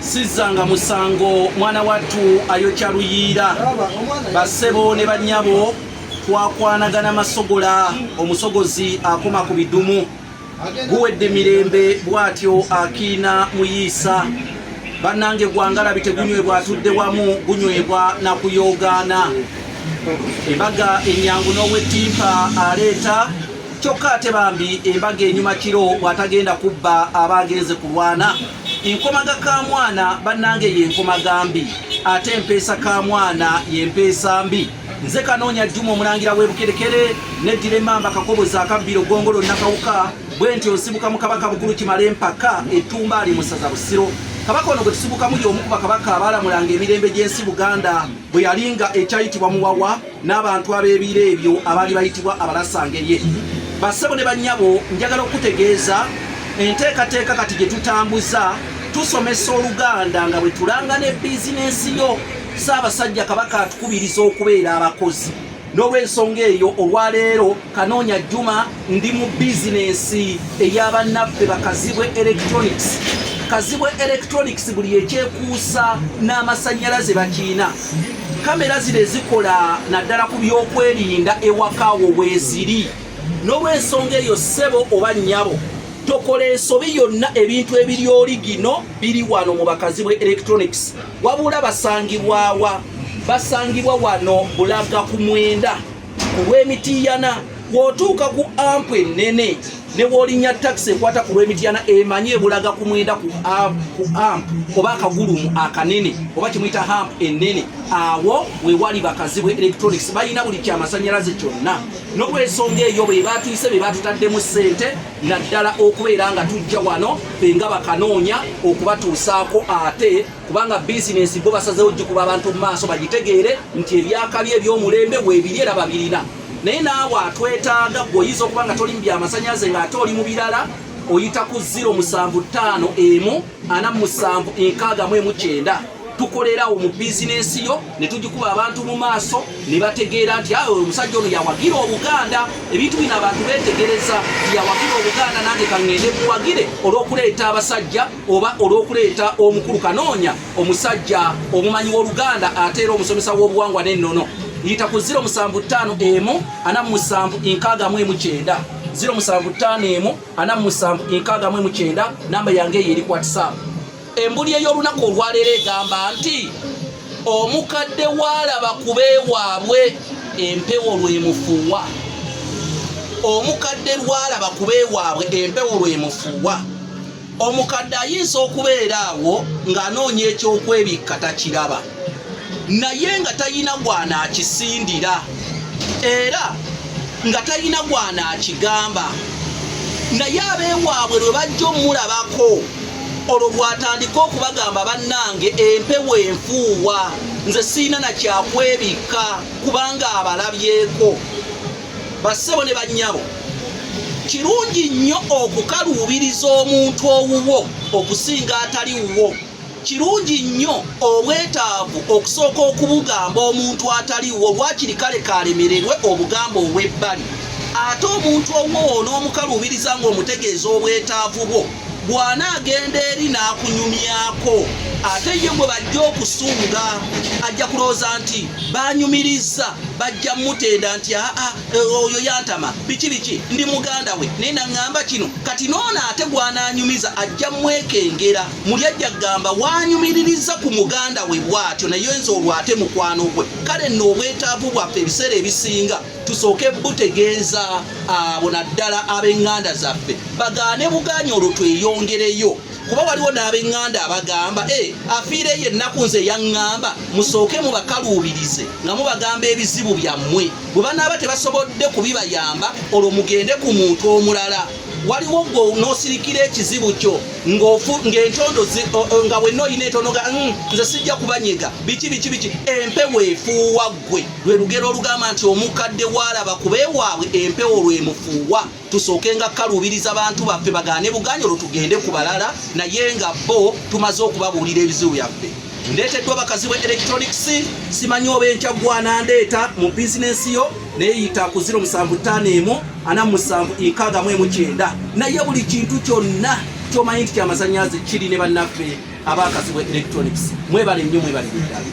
sizzanga musango mwana wattu ayokya luyiira basebo ne bannyabo twakwanagana masogola omusogozi akoma ku bidumu guwedde mirembe bw'atyo akiina muyiisa bannange gwangalabi tegunywebwa atudde wamu gunywebwa na kuyoogaana embaga ennyangu n'owettimpa aleeta kyokka ate bambi embaga enyuma kiro bw'atagenda kubba aba agenze kulwana enkomaga ka mwana bannange yenkomaga mbi ate empeesa ka mwana yempeesa mbi nze kanoonya jjuma omulangira w'ebukerekere neddira emmamba kakobozi akabbiro gongolo nakawuka bwe nti osibuka mu kabaka bukulu kimala empaka ettumba ali musaza busiro kabaka ono gwe tusibukamu y'omu ku bakabaka abaalamulanga emirembe gy'ensi buganda bwe yalinga ekyayitibwa muwawa n'abantu ab'ebiro ebyo abaali bayitibwa abalasangerye bassebo ne bannyabo njagala okukutegeeza enteekateeka kati gye tutambuza tusomesa oluganda nga bwe tulanga ne bizinensi yo ssaabasajja kabaka atukubiriza okubeera abakozi n'olwensonga eyo olwaleero kanoonya juma ndi mu bizinensi ey'abannaffe bakazibwe electronics kazibwe electronics buli ekyekuusa n'amasannyalaze bakiina kamera zino ezikola naddala ku byokwerinda ewakaawo weeziri n'olwensonga eyo ssebo oba nnyabo tokola ensobi yonna ebintu ebiri oli gino biri wano mu bakazi bwe electronics wabula basangibwawa basangibwa wano bulaga ku mwenda ku lw'emitiiyana bw'otuuka ku ampu ennene ne bw'olinnya takisi ekwata ku lw'emitiiyana emanyi ebulaga ku mwenda ku ampu oba akagulumu akanene oba kimuyita hampu ennene awo we wali bakazi bwe electronics balina buli kyamasannyalaze kyonna n'olwensonga eyo be baatuyise be baatutaddemu ssente naddala okubeera nga tujja wano fe nga bakanoonya okubatuusaako ate kubanga bizinensi bo basazeewo gikuba abantu mu maaso bagitegeere nti ebyakabi ebyomulembe weebiri era babirina naye naawe atwetaaga gwe oyinza okuba nga toli mu byamasanyalaze ng'ate oli mu birala oyita ku 0 musanvu ttaano emu ana musanvu enkaaga mu emu kyenda tukolerawo mu bizinensi yo ne tugikuba abantu mu maaso ne bategeera nti awe ah, omusajja ono yawagira obuganda ebintu bino abantu beetegereza nti yawagira obuganda nange kaŋŋende buwagire olw'okuleeta abasajja oba olw'okuleeta omukulu kanoonya omusajja omumanyi w'oluganda ate era omusomesa w'obuwangwa n'ennono yita ku 075 emu ana musanvu enkaaga mu emu kyenda 075 emu ana musanvu enkaaga mu emu kyenda namba yange eyo eri ku whatsapp embuli ey'olunaku olwaleero egamba nti omukadde waalaba kubeewaabwe empewo lwemufuwa omukadde lwalaba kubeewaabwe empewo lwemufuwa omukadde ayinza okubeera awo ng'anoonya ekyokwebikka takiraba naye nga talina gwana akisindira era nga talina gwana akigamba naye abeewaabwe lwe bajja omulabako olwo bwatandika okubagamba bannange empewo enfuuwa nze siina nakyakwebikka kubanga abalabyeko Bassebo ne bannyabo, kirungi nnyo okukaluubiriza omuntu owuwo okusinga atali wuwo. Kirungi nnyo obwetaavu okusooka okubugamba omuntu atali wuwo, waakiri kale kaalemererwe obugamba obw'ebbali. Ate omuntu owuwo onoomukaluubiriza ng'omutegeeza obwetaavu bwo. bw'anaagenda eri n'akunyumyako ate ye gwe bajja okusunga ajja kulowooza nti banyumirizza bajja mutenda nti aa eh, oyo yantama biki biki ndi muganda we naye naŋŋamba kino kati noono ate gw'anaanyumiza ajja mwekengera muli ajja kugamba wanyumiririzza ku muganda we bw'atyo naye nze olwo ate mukwano gwe kale nno obwetaavu bwaffe ebiseera ebisinga tusooke butegeeza abo naddala ab'eŋŋanda zaffe bagaane bugaanyi olwo tweyongereyo kuba waliwo n'ab'eŋŋanda abagamba e afiireyo ennaku nze yaŋŋamba musooke mubakaluubirize nga mubagamba ebizibu byammwe bwe banaaba tebasobodde kubibayamba olwo mugende ku muntu omulala waliwo gwe nosirikira ekizibu kyo ngaentondo nga wenna olina entonoga hmm, nze sijja kubanyega biki biki biki empewo efuuwa gwe lwe lugero olugamba nti omukadde waalaba kuba ewaabwe empewo lwemufuuwa tusooke nga kaluubiriza bantu baffe bagaane bugaanyi olwo tugende ku balala naye nga bo tumaze okubabuulira ebizibu byaffe ndeeteddwa bakazi bwe electronics simanyi oba enkya gwana ndeeta mu bizinensi yo neyita ku 075747 naye buli kintu kyonna kyomanyi nti kyamazanyazi kiri ne bannaffe abakazi bwe electronics mwebale nnyo mwebale ddala